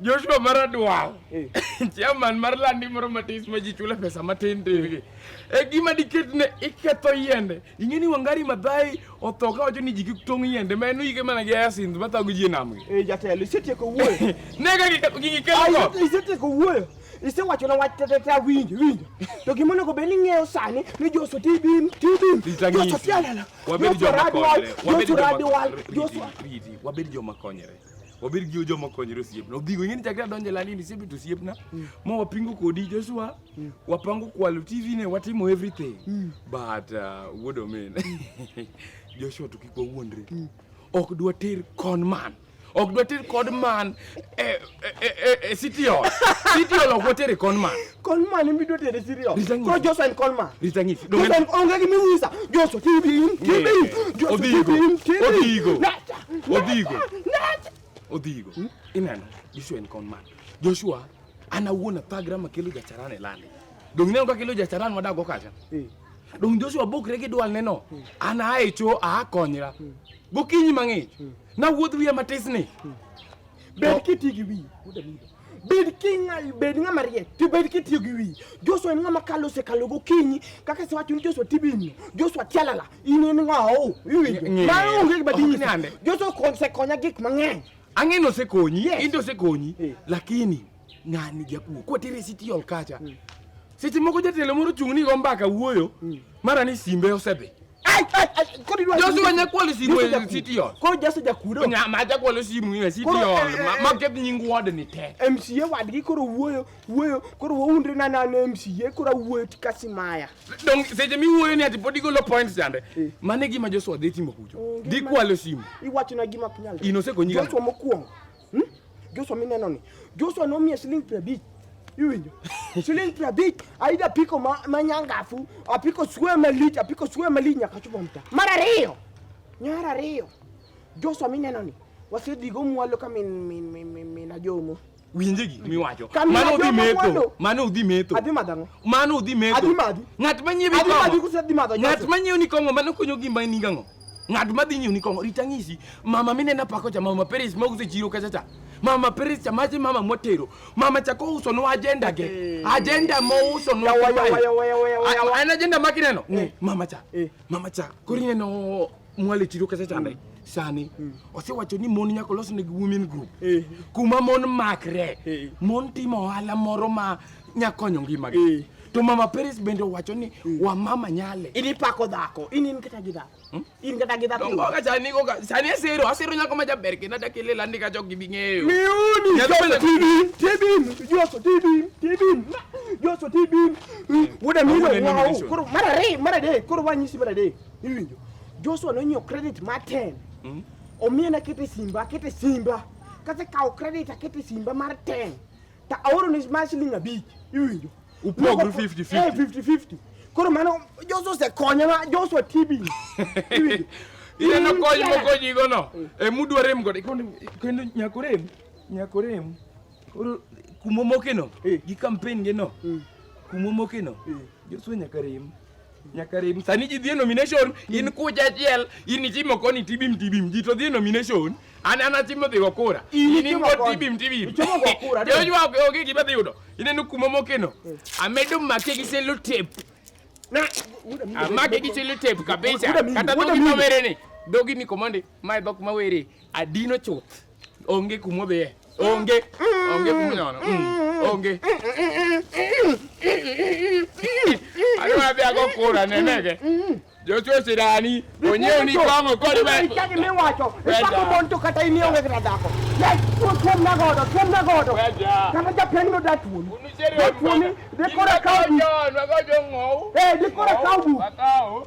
Joshua Maradwal, eh. chairman mar landi moro matis ma ji chule pesa matin tin gi. E gima diket ne iketho yiende. Ing'eni Wangari Maathai otho ka wacho ni ji kik tong' yiende ma en yike mana gi Asinth ma thago ji e nam gi. Eh jatelo, isetieko wuoyo. Ne ka gigi ketho. Isetieko wuoyo. isewacho na wach tetete awinjo winjo to gima onego bed ni ng'eyo sani ni joso tibim tibim joso tialala joso radwal joso radwal joso wabed joma konyre wabed gi joma konyre osiepna odhigo ing'e ni chakre adonje landi ni siebet osiepna mm. ma wapingo kodi Joshua mm. wapango kwalo TV ne watimo everything mm. but uh, wuod omen Joshua to kik wawuondre ok dwa ter con man ok dwa ter con man e, e, e, e, e city hall city hall ok dwa ter con man Coleman mi do tede siri o. Ko Joshua and Coleman. Rita ngisi. Joshua and onge gi miwisa. Joshua tibi in tibi in. Joshua tibi in tibi. Odigo. Odigo. Odigo. Hmm? Ineno Joshua and Coleman. Joshua ana wuona pagra makelo jacharan e lande. Dong ineno kaka kelo jacharan madago kacha. Eh. Dong Joshua bokre gi dwal neno. Hmm. Ana ae cho a konyra. Hmm. Gokinyi mang'ich. Na wuodh wiya matisni. Bet kitigi wi. bed king'al bed ng'ama riek to bed kitiyo gi wiyi joshua en ng'ama kalo osekalo gokinyi kaka isewacho ni joshua tibinyo joshua tialala in en ng'awo iwinjo Ng'e- ma onge gima Ok dinyisi nyande. joshua ko- osekonya gik mang'eny ang'e nosekonyi Yes. in to osekonyi Eh. lakini ng'ani japuo kwatiri city hall kacha seche moko jatelo moro chung' ni go mbaka wuoyo mara ni simbe osedhi Josu wenye kwa lisi mwe city hall. Kwa Josu ja kudo. Nya ma ja kwa lisi mwe city hall. Ma get nying ward ni te. MCA ward gi koro wuoyo wuoyo koro wuondre na na MCA koro wuoyo tikasi maya. Dong seje mi wuoyo ni ati podi golo points jande. Eh. Mane gima Josu odhi timo kujo. Di kwa lisi mwe. Iwacho na gima kunyalo. Inose konyiga. Josu mokuongo. Hmm? Joshua mineno ni. Joshua nomiye siling' piero abich. Iwinjo? Siling' piero abich aida apiko ma, ma nyangafu, apiko swe malich, apiko swe malich nyaka chopo mta. Mar ariyo. Nyar ariyo. Joshua mineno ni. Wasedhigo mwalo ka min min min min, min ajomo. winje gik miwacho Kamina mano udhi jomo metho mwando. mano udhi metho Adhi madho ang'o? mano udhi metho Adhi madhi. ng'at manyiewi Adhi madhi kong'o kose adhi madho ng'at Joshua? manyiewi ni kong'o mano konyo gimba ni gang'o ng'at ma dhi nyoni kong'o rita ng'isi mama minena pako cha mama Paris ma uso chiro kacha cha mama Paris cha maji mama motero mama cha kouso no agenda ge eh. agenda mo uso no ana agenda makineno eh. mama cha eh. mama cha korine no mwale chiro kacha cha ndai mm. sani mm. osewacho ni mon nyaka olosnegi women group eh. kuma mon makre eh. mon timo ohala moro ma nyakonyo ngimagi Eh. to mama peris bende owacho ni wamama nyale in ipako dhako in in kata gi dhako Hmm? in kata gi dhako dongoga sani goga sani asero asero nyako ma jaber kendo adaki lela ndi ka jok gibi ng'eyo miuni Nyalo joso bedo- tibim tibim joso tibim tibim joso tibim wuda mino Awuoda ni wao mission. koro mar ariyo mar adek koro wanyisi mar adek iwinjo joshua nonyiewo credit mar 10 Mm. omiyena kete simba akete simba kasekawo credit akete simba mar 10 te awaro ni ma siling abich iwinjo Upogri 50-50. Eh, 50-50 koro mano Joshua osekonya ma Joshua TB iwinjo Ineno kony mokonyigono e mudwa rem godo kendo nyako rem nyako rem koro kumomokeno gi kampen gino kumomokeno Joshua nyaka rem nyaka rem sani ji dhie nomination in kucha achiel in itimo koni tibim tibim ji to dhie nomination an an atimo dhigo kura In in itimo ingo koni. tibim tibim Itimo go kura, dong. Joshua ok- onge gima dhi yudo ineno kuma mokeno amedo make gi selo tape Na wuda mi. amake gi selo tape kabisa Wuda mimi, kata wuda dhogi mimi. mawere ni dhogi ni komande mae dhok mawere adino chuth Onge kuma odhiye. Onge. Onge kuma onyono. Mm. Onge. Ano wapi ako kura nenege. Joshua Sirani, onyew ni kong'o kod we. Chagi miwacho, ichako mon to kata in ionge kata dhako. Yes, tuom na godo, tuom na godo. Kama japeng no da tuom. Tuom ni, dekora kawu. Dekora kawu.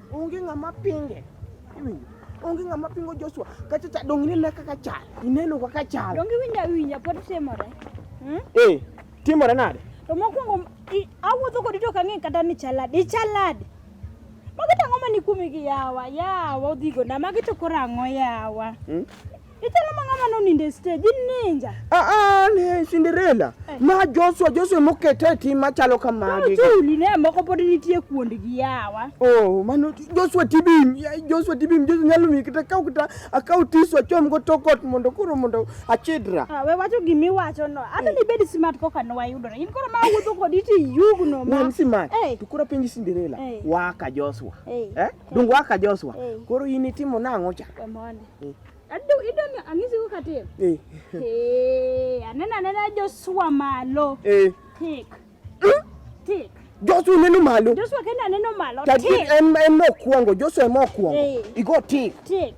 Onge ng'ama pinge. Iwinjo? Onge ng'ama pingo Joshua. Kacha cha dong inene kaka chal. Ineno kaka chal. Donge winja winja pod timore. Hmm? Eh, timore nade? To mokwongo i- awuotho kodi to ok ang'e kata ni chaladi. Ichaladi. Magi to ang'o ma ni kuomi gi yawa? Yawa odhigo na magi to koro ang'o yawa? Hmm? Itala mangama no ninde stage ninja. Ah ah ne Cinderella. Eh. Ma Joshua Joshua mokete ti machalo kamagi. No tuli ne moko pod nitie kuond gi yawa. Oh mano Joshua tibim Joshua tibim Joshua nyalo mi kita kau kita akau tisu achom go tokot mondo kuro mondo achidra. Ah we wacho gimi wacho no. Ata eh. ni bed smart koka no wayudore. In koro ma wuotho kodi ti yugno ma. Wan smart. Eh. To koro penji Cinderella. Waka Joshua. Eh. Dung waka Joshua. Koro in itimo nang'o cha? Kamone. Eh. Adu idol angisi ko katem. Eh. Eh, anena anena Joshua malo. Eh. Tik. Hmm? Tik. Joshua neno malo. Joshua kenda neno malo. Tik. Em em no kuongo, Joshua mo kuongo. Eh. Igo tik. Tik.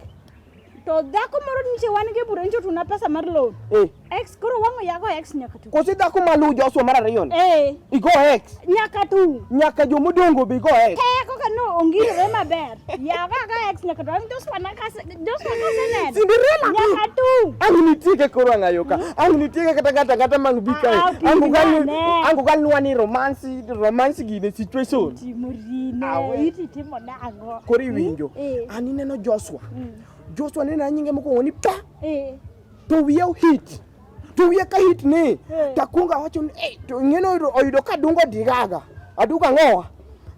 To dhako moro niche wan gi bura nicho tuna pesa mar loan. Eh. Ex koro wango yago ex nyaka tu. Kosi dhako maluw Joshua mar ariyo ni. Eh. Igo ex. Nyaka tu. Nyaka jo modongo be igo ex. Te koka no ongire maber. Yago ga ex nyaka tu. Joshua na ka Joshua ka sene. Cinderella. Nyaka tu. Angu nitieke koro angayo ka. Angu nitieke kata kata kata mang bi kae. Ah, ah, angu gal angu gal nuwa ni romance romance gi ne situation. Timorine. Ah, Iti timo na ango. Kori winjo. Eh. Ani neno Joshua. Mm. Joshua nena nyinge mokuongo ni pa. Eh. to wiye ohit to wiye ka hit ni eh. takwonga wacho ni eh, to ing'eno oyudo ka dungo digaga aduka ng'owa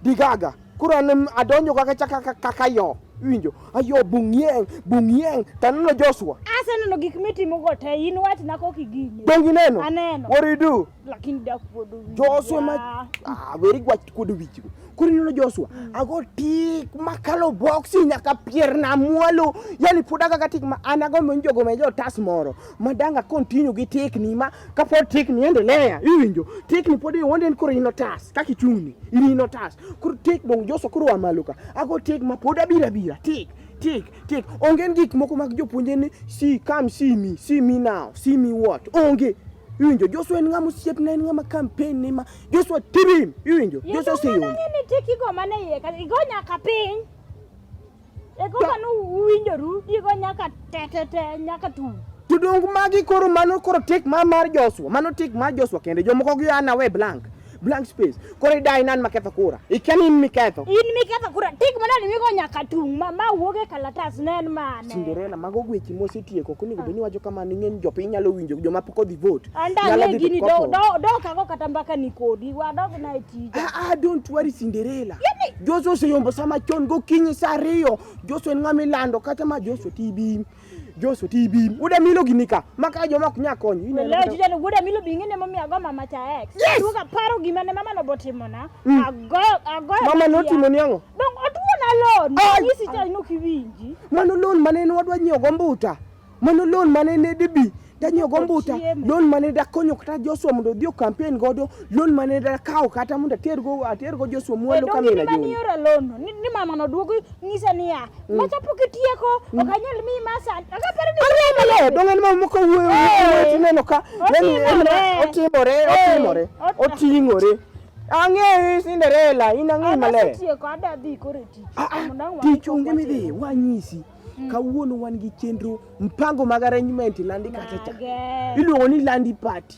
digaga koro an adonjo kaka chaka kaka yo winjo ayo bung'yeng bung'yeng taneno Joshua aseneno gik mitimogo te in wachna kok igine donge ineno aneno what do you do lakini da kuodo wich Joshua ma ah weri gwa kuodo wich go kuri nilo Joshua mm. ago tik makalo boxi nyaka pier na mwalo yani puda kaka tik ma anago mwenjo go mejo tas moro madanga continue gi tik ni ma kapo tik ni endelea iwinjo tik ni podi wonde kuri nilo tas kaki chuni ili nilo tas kuri tik dong Joshua kuri wa maluka ago tik ma puda bira bira tik tik tik onge gik moko mag jopuonjre ni si kam si mi si mi now si mi what onge Iwinjo Joshua en ng'ama osiepna en ng'ama campaign ni ma Joshua tibim iwinjo Joshua si yom. Ng'e ni tiki go mane iye ka igo nyaka piny. E go kanu uwinjoru igo nyaka tetete nyaka tu. Tudong magi koro mano koro tik ma mar Joshua mano tik mar Joshua kende jomoko gi ana we blank. blank space koro idai nan maketho kura ikia ni in miketho in miketho kura tik mana ni migo nyaka tung ma ma wuog e kalatas ne en mane Cinderella mago gwechi mosetieko koni go beni wacho kama ni ng'eny jopiny nyalo winjo joma pok odhi vote anda Nyalo ne dhi gini to do kopo. do do kago kata mbaka ni kodi wadog na e tija Ah, ah, don't worry Cinderella. Joshua oseyombo sama chon gokinyi saa ariyo. Joshua en ng'ama ilando kata ma Joshua tibi. Joso ti bi. Uda milo gini ka. Maka joma ok nya konyo. Ine Leo jija no uda milo bingi ne mami ago mama cha ex. Yes. Tuka paro gima ne mama no botimo na. Mm. Ago ago. Mama no timo ni ango? Dong otuo na loan. Yisi cha ino kiwinji. Mano loan mane ne wadwa nyiewo gombuta. Mano loan mane ne dibi tanyo gombuta loan mane da konyo kata Joshua mondo odhi campaign godo loan mane da kawo kata mondo ater go ater go Joshua mwalo kama ina juu ni ora loan ni, ni mama no duogo ngisa niya mm. macha pok itieko mm. okanyal mi masa akapare ni ora malo dongan ma moko wuoyo wuoyo tineno ka yani otimore otimore otingore ang'eyi Cinderella in ang'eyi maler tichunge midhi wanyisi Mm. Kawuono wan gi chenro mpango mag arrangement landi kata cha. Iluongo ni landi party.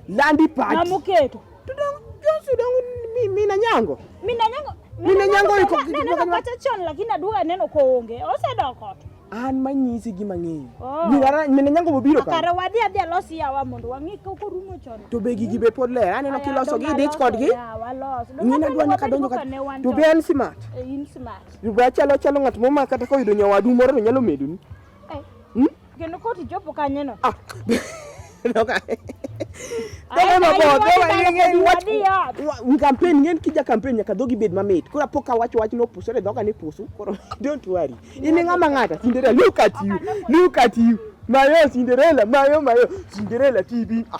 Landi party. Na muketo. Tudong Josu dong mi mi na nyango. Mi na nyango. Mi na nyango iko kitu. Neno kata chon lakini aduga neno koonge. Osedoko. An manyisi gima ng'eyo. Oh. Mi wara mi na nyango bobiro ka. Kare wadhi adhi alosi yawa mondo wang'i ka uko rumo chon. To be gigi be pod ler. Aneno kiloso gi dich kodgi. Yawa los. Ng'ina dwa nyaka donjo ka. To be en smart. Eh, in smart. Juba chalo chalo ng'at moma kata ka oyudo nyawadu moro to nyalo medoni. Hmm? Kendo ka otichopo kanyono. Ah. Doka. Doka mabor, doka ng'eny wach. Un campaign ng'eny kija campaign nyaka dhogi bed mamit. Koro pok ka wach wach no pusore doka ni pusu. Koro don't worry. In ng'ama ng'ata Cinderella look at you. Look at you. Mayo Cinderella, mayo mayo Cinderella TV. Ah.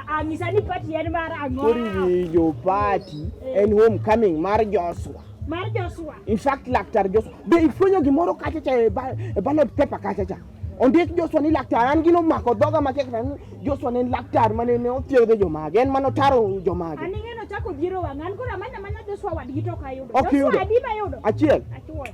Anyisani party en mar ang'o? Oriwinjo party en homecoming mar Joshua. Mar Joshua. In fact, Laktar Joshua. Be ifwenyo gimoro kacha cha e ballot paper kacha cha. Ondik Joshua ni laktar, an gino mako dhoga matek ni Joshua ne en laktar mane ne othiedho jomage, en mane otaro jomage. An ing'eno chako dhiero wang'an, koro amanya manya Joshua wadgi to ok ayudo. Joshua adi mayudo? Achiel. Achiel.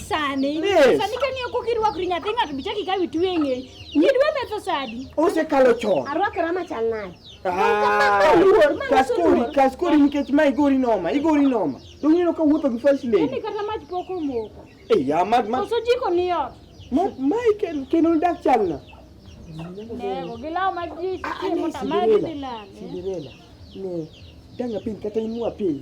sani Yes. sani ka ng'iyo kok irwakri nyathi ng'ato bichak ikaw itwe e ng'eyi nyidwa metho sadi osekalo chon arwakra machal nade Ah, luor, ma kas nyiso kori luor. kas kori nikech ma igori noma igori noma dong ineno ka wuotho gi first ini lady kata mach pok omoko Ei, ya mad mad koso jiko ni ot ma ma iken- kendo dak chalna nego gi law ma ji Ah, ah, ne, timo tamagi Cinderella. dhi lale Cinderella ne danga piny kata imua piny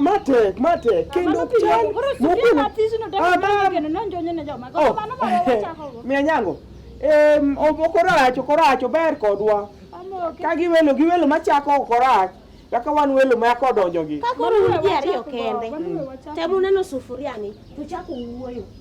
matek matek kendo ok chal miya nyango okorach okorach ober kodwa ka giwelo giwelo machako okorach kaka wan welo ma yako donjo gi. Ka koro un ji ariyo kende, temu neno sufuriani, tuchako wuoyo.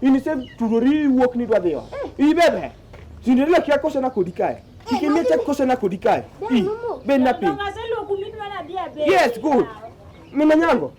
In ise turori wuok ni dwadhiwa. Eh. Ibebe. Tinde lek ya kose na kodi kae. Eh, Ikimie tek kose na kodi kae. I. Ben na piny. Yes, good. Mina nyango.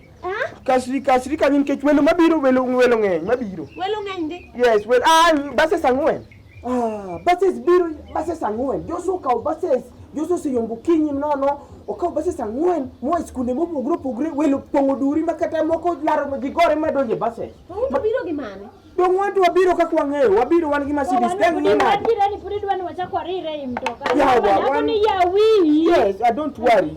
Kasri kasri kanyin kech welo mabiro welo welo ng'eny mabiro. Welo ng'eny ndi. Yes, well ah base sang'wen. Ah, bases biro bases ang'wen Joshua okawo bases Joshua oseyombo okinyi nono okawo bases ang'wen moa e skunde mopogore opogore welo pong'o duri ma kata moko laro ma gigore ma donjo e bases To un to biro gi mane? dong' wan to wabiro kaka wang'eyo wabiro wan gi Mercedes dang' ni nade Adiera ni pod idwa ni wachak warire ei mtoka. Yawa, Nyako wan- ni yawi. yes I don't worry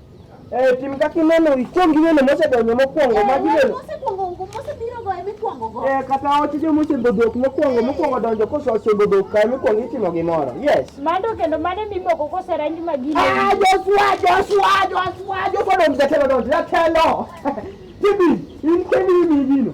Eh, tim kaka ineno ikwong ineno mosedonjo mokwongo eh, ma gineno eh, kata oche jo mosego dhok mokwongo eh. mokwongo donjo koso osego dhok kae mikwongo itimo gimoro yes mando kendo mane mimoko kose ranj ma gine ah Joshua Joshua Joshua Joshua donjo jatelo donjo jatelo tibi in kendi imi gino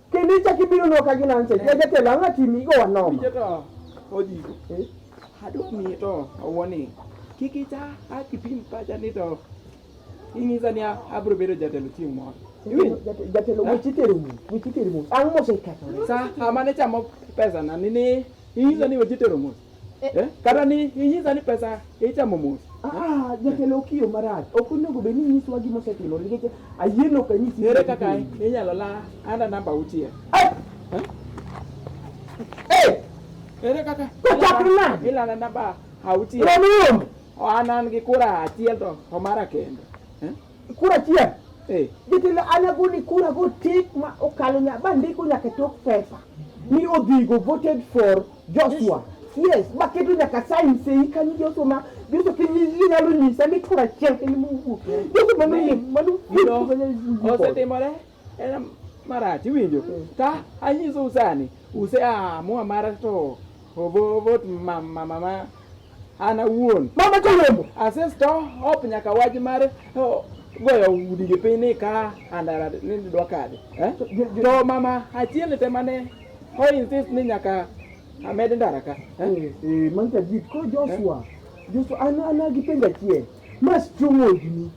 Kendo ichak ibiro nwa ka gina nse. Ja jatelo ang'a tim igo wanoma. Jata oji. Eh? Adwa miye to awoni. Kik icha akipim pacha ni to inyisa ni abiro bedo jatelo chieng' moro. Jatelo weche itero mos. Weche itero mos. Ang' mosekethore. Sa amane chamo pesa na nini inyisa ni weche itero mos. Eh, eh, kata ni inyisa ni pesa ichamo mos. Ah, ah jatelo okiyo marach. Ok onego bed ni nyiswa gima osetimo nikech ayieno ok anyisi. Ere kaka inyalo la anda namba auchiel. Eh! eh! Ere kaka? Kochakre nade? Ilala namba auchiel. Romiyo. An an gi kura achiel to omara kendo. Kura achiel? Eh. Jatelo an agoni kura go tik ma okalo nya bandiko nyaka tok pesa. Ni odhigo voted for Joshua. Yes, baketo nyaka sign sei kanyo Joshua ma Joshua kinyalo nyisa ni tura chiel kanyo mowuok. Joshua mano yie mano osetimore en marach iwinjo ka anyiso usani use amua mara to ovo vot mama mama an awuon mama choyombo asesto hop nyaka wach mar oh, goyo udi gi piny ni ka andara ni dwa kade eh? to mama achiel te mane Why insist ni nyaka amed ndara ka? Eh, eh, eh man ka jit ko Joshua. Eh? Joshua an an gi penga chien. Mas chungo ni.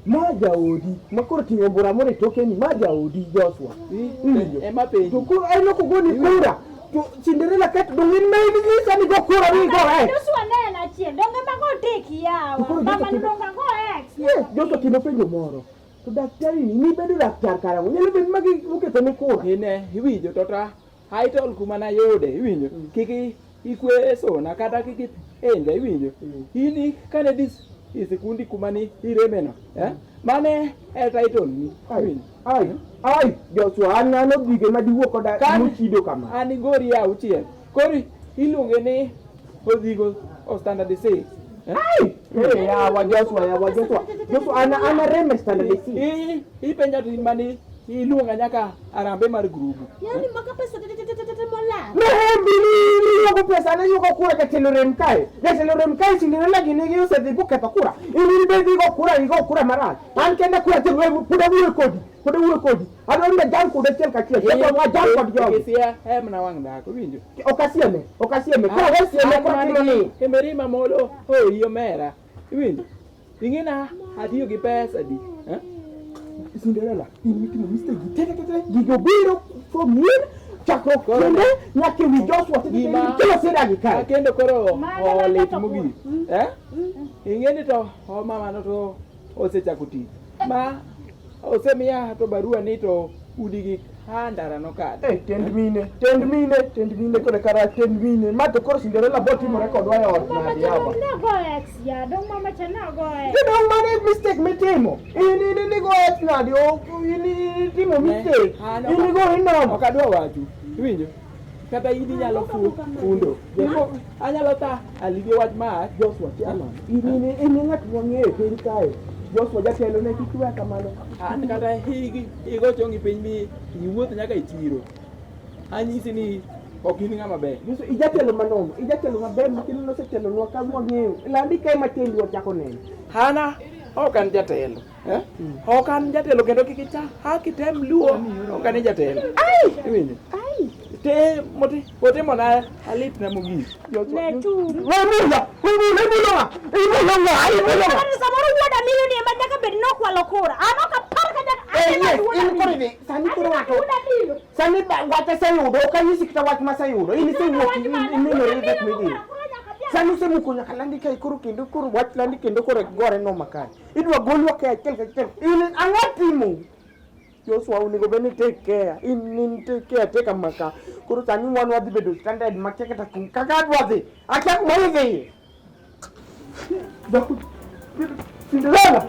Ma jaodi, ma koro tingo bura more toke ni ma jaodi Joshua. Eh, eh ma pengi. To ko ai no ko goni kura. To Cinderella kat do ngin mai ni isa ni go kura ni go ai. Joshua ne na chien, donge ma go teki yawa. Mama ni donga go ex. Yes, Joshua kino penjo moro. To daktari ni nibedo laktar karang'o? Nyalo bedo ma gi- oketo ni kura. ine iwinjo to ta haitol kuma nayude iwinjo Mm. kik i- ikwe sona kata kik i- enja iwinjo Mm. in i- kane dis isikundi kuma ni iremeno eh? mane e title ni Ai, iwinjo ai, ai, Joshua an an odhige ma diwuo koda Kan- mochido kama. an igori auchiel Kori iluonge ni odhigo o standard six. Yawa Joshua, yawa Joshua. Joshua ana ana reme standard six. Ipenja tu mani iluonga nyaka arambe mar grubu. Yaani maka pesa mola. Rembi ni yuko pesa na yuko kura jatelo rem kae. Jatelo rem kae sindino lagi ni gi osedhi buketho kura. Ini be dhigo kura igo kura marach. An kenda kura jatelo puda wuyo kodi. Puda wuyo kodi. Adwaro ni ajam kude achiel kachiel. Kendo ajam kod jogi. Kisia em na wang' dhako winjo. Ok asieme, ok asieme. Ka we sieme ko timo ni. Kemeri ma molo hoyi omera. Iwinjo? Ingina atiyo gi pesa di. Eh? Cinderella, in mitimo mistake gi tete tete gi jobiro from here chakruok kende nyaka ewi Joshua tete tete kila sida gi kae. Kendo koro olit mogik. Eh? Ingeni to o mama no to osechako tich ma osemiya to barua ni to udi gi handara nokadh Eh, tend mine, tend mine, tend mine kod kara tend mine. Ma to koro Cinderella bot timore kodwa e ot Mama nadi yaba. Chalong nago ex ya, dong mama cha nago ex. Jodong mane mistake mitimo. In in in go et nadi o in in timo mistake. In go inomo. ok adwa wachu iwinjo kata in inyalo fu fundo jeko anyalo ta aligi wach ma Joshua Chairman in in in ng'at mwang'eyo e piny kae Joshua jatelo ne kik weya kamano an kata higi higo chongi piny mi iwuoth nyaka e chiro anyisi ni ok in ng'ama ber Yesu ijatelo manono ijatelo maber makendo nosetelonwa ka mwang'eyo landi kae matiendwa chako neno hana ok an jatelo Eh? Mm. Ok an jatelo kendo kik icha ha kitem luo ok an jatelo. Iwinjo? Te moti otimo na alit na mogik. Netu. Wemulo, wemulo, wemulo wa. Imulo wa, imulo wa. Kani samoro wuoda miyo ni ema nyaka bed ni okwalo kura. An ok apar ka nyaka Eh, achiel yes, wuoda in miyo. koro ni, sani koro Achiel wacho. wuoda miyo. Sani ba- wach aseyudo, ok anyisi kata wach maseyudo. In isewuok, Wach in- mana, in- inenore wuoda that miyo meeting. okwalo kura nyaka achiel. Sani usemuko nyaka landi kae koro kendo koro wach landi kendo koro gore noma kae. Idwa golwa ka achiel ka achiel. In ang'o timo? Joshua onego bed ni take care. In in take care take maka. Koro sani wan wadhi bedo standard ma kia kata kum kaka adwa dhi. Akia kuma idhi. Daku. Cinderella.